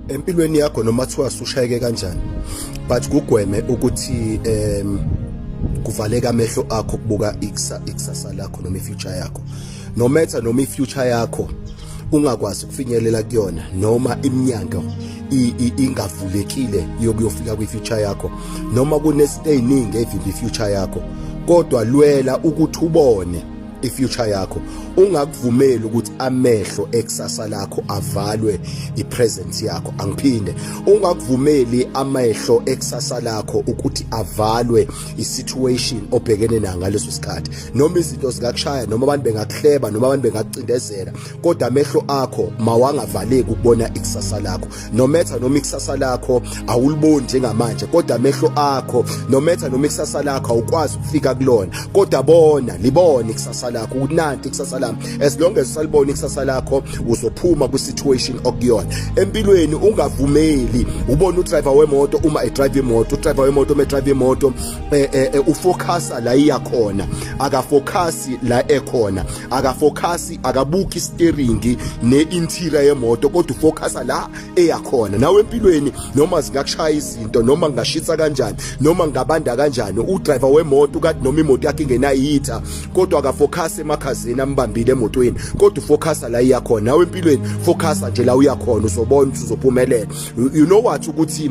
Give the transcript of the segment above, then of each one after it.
empilweni yakho noma kuthiwa sushayeke kanjani but kugweme ukuthi um kuvaleka amehlo akho kubuka ikusasa lakho noma ifuture yakho no matter noma ifuture yakho ungakwazi ukufinyelela kuyona noma iminyango ingavulekile yokuyofika kwi-future yakho noma kunezinto eziningi evimba i-future yakho kodwa lwela ukuthi ubone ifuture yakho ungakuvumeli ukuthi amehlo ekusasa lakho avalwe ipresent yakho angiphinde ungakuvumeli amehlo ekusasa lakho ukuthi avalwe isituation obhekene nayo ngaleso sikhathi noma izinto zikakushaya noma abantu bengakuhleba noma abantu bengakucindezela kodwa amehlo akho mawangavaleki ukubona ikusasa lakho nometha noma ikusasa lakho awuliboni njengamanje kodwa amehlo akho nometha noma ikusasa lakho awukwazi ukufika kulona kodwa bona libone ikusasa lakho ukuthi nanti ikusasa lami as long as usalibona ikusasa lakho uzophuma kwi situation okuyona empilweni ungavumeli ubona udriver wemoto uma edrive imoto udriver wemoto uma edrive imoto eh, eh, eh, ufocusa la iya khona akafocus la ekhona akafokhasi akabuki steeringi ne-interior yemoto kodwa ufokhasa la eyakhona nawe empilweni noma zingakushaya izinto noma ngingashisa kanjani noma ngingabanda kanjani udriver wemoto kade noma imoto yakhe ingenayitha kodwa akafokhasi emakhazini ambambile emotweni kodwa ufokhasa la iyakhona nawe empilweni fokhasa nje la uyakhona uzobona uzophumelela you know what ukuthi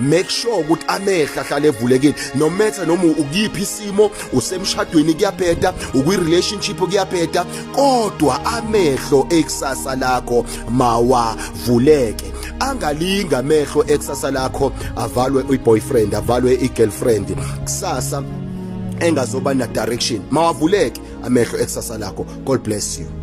make sure ukuthi amehla ahlale evulekile no matter noma ukuyiphi isimo usemshadweni kuyabheda ukwi relationship kuyabheda kodwa amehlo ekusasa lakho mawavuleke angalinga amehlo ekusasa lakho avalwe uyi boyfriend avalwe i girlfriend kusasa engazoba na direction mawavuleke amehlo ekusasa lakho god bless you